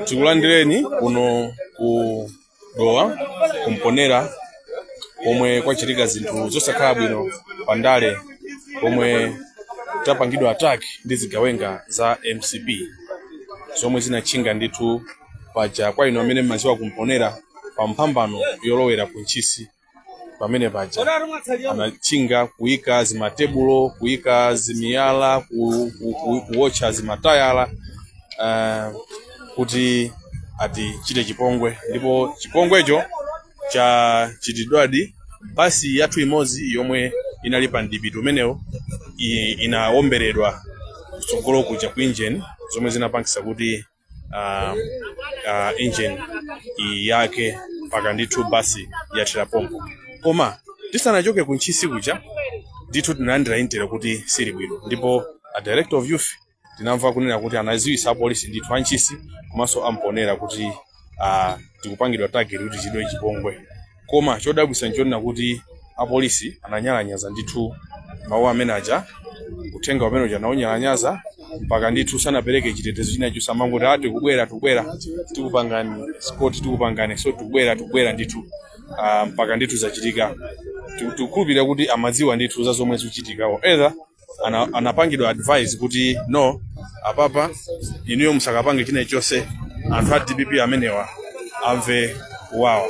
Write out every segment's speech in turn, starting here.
tikulandireni kuno ku dowa kumponera pomwe kwachitika zinthu zosakhala bwino pa ndale pomwe tapangidwa attack ndi zigawenga za mcp zomwe zinatchinga ndithu paja kwa ino amene mmaziwa kumponera pa mphambano yolowera ku ntchisi pamene paja anachinga kuyika zimatebulo kuyika zimiyala ku- ku- ku- kuwotcha zimatayala ah, kuti atichite chipongwe ndipo chipongwecho chachitidwadi basi yathu imodzi yomwe inali pa mdipiti umenewo i- inaomberedwa kutsogolo kuja ku injeni zomwe zinapangisa kuti uh, uh, engine yake mpaka ndithu basi yathera pompo koma tisanachoke ku ntchisi kuja ndithu tinalandira intel kuti sili bwino ndipo a director of youth tinamva kunena kuti anaziwisa apolisi ndithu antchisi komanso amponera kuti uh, tikupangidwa target kuti tichitidwe chipongwe Koma chodabwisa nchonena kuti apolisi ananyalanyaza ndithu mawu amene aja, uthenga umene uja anaunyalanyaza mpaka ndithu sanapereke chitetezo china chilichonse amangoti ah tikubwera tikubwera tikupangani escort tikupangani so tikubwera tikubwera ndithu ah, mpaka ndithu zachitika Tiku- tikukhulupirira kuti amadziwa ndithu za zomwe zikuchitika or either ana, anapangidwa advise kuti no apapa inuyo musakapange china chonse anthu a dpp amenewa amve kuwawa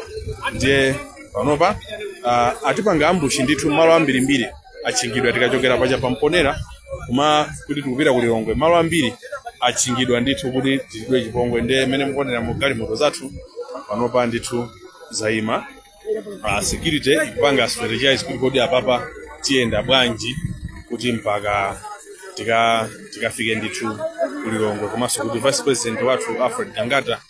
ndiye panopa uh, atipanga ambushi ndithu mmalo ambirimbiri atchingidwa tikachokera paja pamponera koma kuti tikupita ku lilongwe mmalo ambiri atchingidwa ndithu kuti tichitidwe chipongwe ndiye mmene mukuoneramu galimoto zathu panopa ndithu zayima uh, security ikupanga strategize kuti kodi apapa tiyenda bwanji kuti mpaka tika tikafike ndithu kulilongwe komanso kuti vice president wathu alfred gangata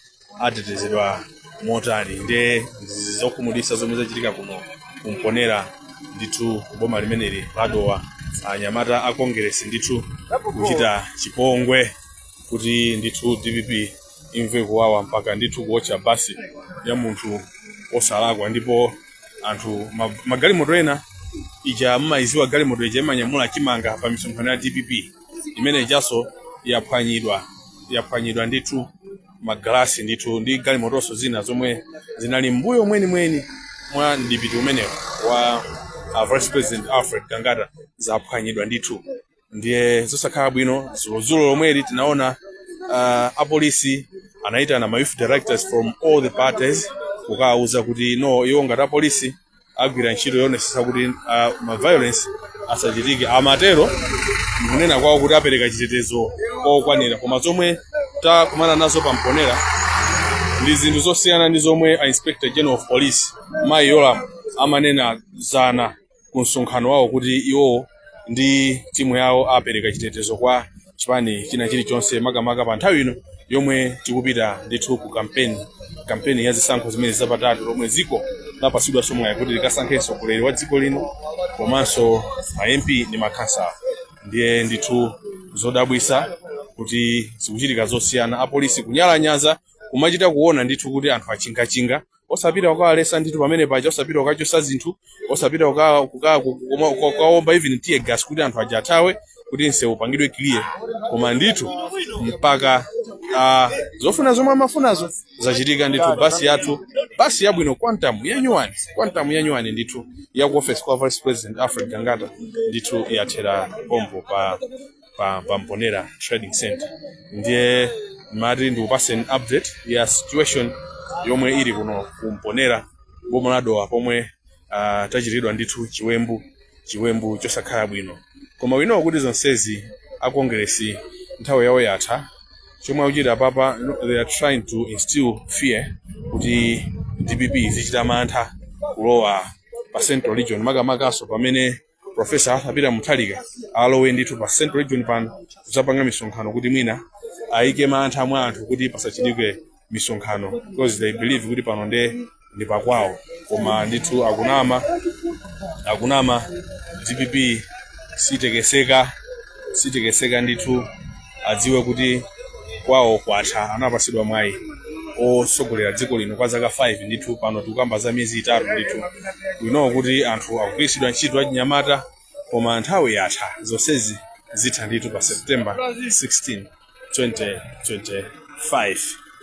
atetezedwa motani nde ndi zokhumudwitsa zomwe zachitika kuno kumponera ndithu boma limeneli ladowa anyamata a congress ndithu kuchita chipongwe kuti ndithu dpp imve kuwawa mpaka ndithu kuotcha basi ya munthu osalakwa ndipo anthu ma- magalimoto ina ija mmayiziwa galimoto ija imanyamula chimanga pa misonkhano ya dpp imene ijaso yaphwanyidwa yaphwanyidwa ndithu magalasi ndithu ndi galimotonso zina zomwe zinali mbuyo mwenimweni mwa mdipiti umenewo wa uh, vice president alfred gangata zaphwanyidwa ndithu ndiye zosakhala bwino zulozulo lomweli tinaona uh, apolisi anayitana ma youth directors from all the parties kukawauza kuti no iwo ngati apolisi agwira ntchito yoonetsetsa kuti uh, ma violence asachitike amatero nkunena kwawo kuti apereka chitetezo kokwanira koma zomwe takumana nazo pa mponera ndi zinthu zosiyana ndi zomwe a inspector general of police mayi yolam amanena zana ku msonkhano wawo kuti iwowo ndi timu yawo apereka chitetezo kwa chipani china chilichonse makamaka pa nthawi ino yomwe tikupita ndithu ku kampeni kampeni ya zisankho zimene zapatatu lomwe dziko lapasidwaso mwayi kuti likasankhe mtsogoleri wa dziko lino komanso ma mp ndi makhansala ndiye ndithu zodabwisa kuti zikuchitika zosiyana apolisi kunyalanyaza kumachita kuona ndithu kuti anthu achingachinga osapita kukawalesa ndithu pamene paja osapita kukachosa zinthu osapita kuka- kuka- ku- kuma- ku- kukaomba even tear gas kuti anthu aja athawe kuti msewu upangidwe clear koma ndithu mpaka ah, zofuna zomwe amafunazo zachitika ndithu basi yathu basi yabwino quantum yanyuwani quantum yanyuwani ndithu ya ku office kwa vice president alfred gangata ndithu yathera pompo pa pa, pa mponera trading center ndiye ndimati ndikupaseni update ya situation yomwe ili kuno kumponera boma la dowa pomwe uh, tachitiridwa ndithu chiwembu chiwembu chosakhala bwino koma we know kuti zonsezi a kongeresi nthawi yawo yatha chomwe akuchita papa they are trying to instill fear kuti dpp izichita mantha kulowa pa central region makamakaso pamene profesa arthur peter mutharika alowe ndithu pa central region pano kudzapanga misonkhano kuti mwina ayike mantha mwa anthu kuti pasachitike misonkhano because they believe kuti pano nde ndi pakwawo koma ndithu akunama akunama dpp sitekeseka sitekeseka ndithu adziwe kuti kwawo kwatha anapatsidwa mwayi otsogolera dziko lino kwa zaka 5 ndithu pano tikukamba za miyezi itatu ndithu we know kuti anthu akugwiritsidwa ntchito achinyamata koma nthawi yatha zonsezi zitha ndithu pa september 16 2025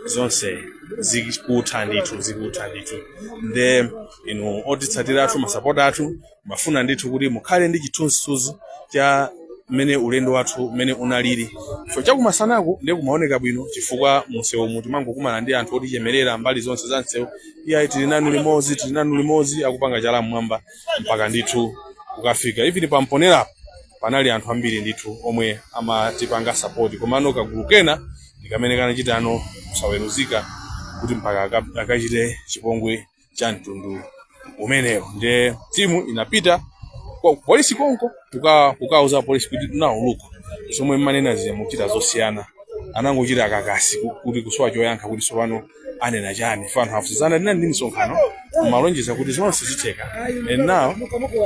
zonse zikutha ndithu zikutha ndithu nde inu otitsatira athu masapota athu mafuna ndithu kuti mukhale ndi chithunzithunzi cha mmene ulendo wathu mmene unaliri so chakumasanaku ndiye kumaoneka bwino chifukwa msewumu timangokumana ndi anthu otichemerera mbali zonse za msewu iyayi tili nanu limodzi tili nanu limodzi akupanga chala mmwamba mpaka ndithu kukafika even pamponerapo panali anthu ambiri ndithu omwe amatipanga sapoti komano kagulu kena ndi kamene kanachitano kusaweruzika kuti mpaka aka- akachite chipongwe cha mtundu umenewo ndiye timu inapita kwa polisi konko kukauza polisi kuti now look zomwe mumanena zija mukuchita zosiyana anangochita kakasi ku- kuti kusowa choyankha kuti sopano anena chani fano hafuzana ndinali ndi misonkhano mumalonjeza kuti zonse zitheka and now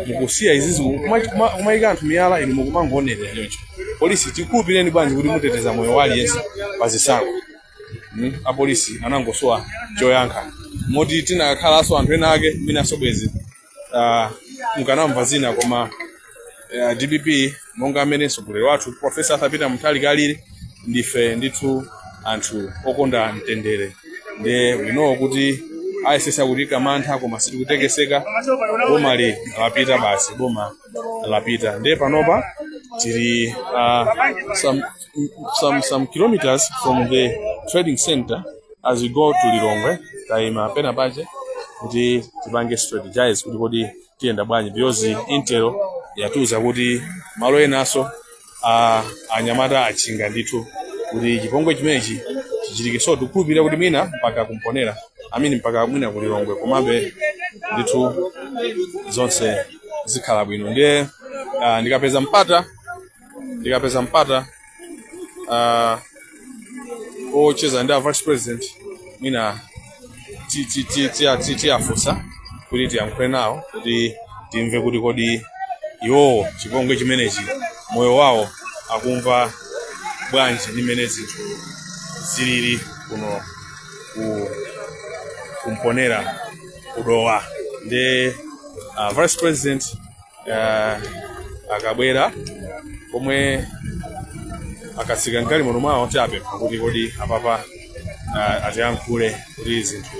mukusiya izizi kuma- kuma- kumayika anthu miyala inu mukumangoonera choncho polisi tikhulupireni bwanji kuti muteteza moyo wa aliyense pa zisankho mm, apolisi anangosowa choyankha moti tinakhalanso anthu ena ake mwinanso bwenzi ah, mukanamva zina koma eh, dpp monga amene mtsogoleri wathu profesa arthur peter mutharika Muthalika ali ndife ndithu anthu okonda mtendere nde we know kuti ayesesa kutiika mantha koma sitikutekeseka boma li lapita basi boma lapita nde panopa tili ah, sam- some some kilometers from the trading center as you go to lilongwe tayima pena pache kuti tipange strategize kuti kodi tiyenda bwanji because intel yatiuza kuti malo enaso a anyamata achinga ndithu kuti chipongwe chimenechi chichitike so tikukhulupirira kuti mwina mpaka kumponera I mean mpaka mwina ku lilongwe komabe ndithu zonse zikhala bwino ndiye ah, ndikapeza mpata ndikapeza mpata uh, wocheza ndi a vice president mwina ti- ti- ti- ti- ti- tiyafunsa kuti tiyankhule nawo kuti timve kuti kodi iwowo chipongwe chimenechi moyo wawo akumva bwanji ndi mmene zinthu zilili kuno ku kumponera kudowa ndi uh, vice president uh, akabwera pomwe akatsika m'galimoto mwawo tiapempha kuti kodi apapa uh, atiyankhule kuti zinthu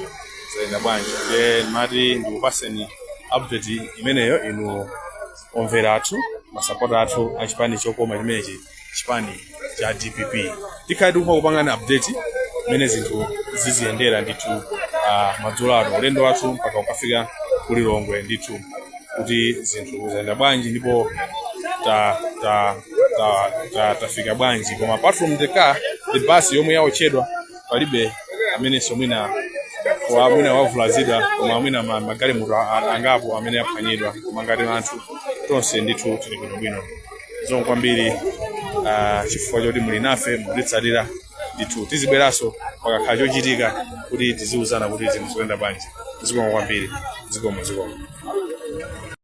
zayenda bwanji ndiye ndimati ndikupaseni update imeneyo inu omvera athu masapota athu achipani chokoma chimenechi chipani cha dpp tikhale tikumapangana update mmene zinthu ziziyendera ndithu uh, madzulo ano ulendo wathu mpaka ukafika ku lilongwe ndithu kuti zinthu zayenda bwanji ndipo ta, ta, ta, ta, tafika bwanji koma apart from the car ndi bus yomwe yaotchedwa palibe amenenso mwina wa mwina wavulazidwa koma mwina ma- magalimoto a- a- angapo amene aphwanyidwa koma ngati anthu tonse ndithu tili bwinobwino zikomo kwambiri ah, chifukwa choti muli nafe mukutitsatira ndithu tizibweranso pakakhala chochitika kuti tiziwuzana kuti zinthu zikuyenda bwanji zikomo kwambiri zikomo zikomo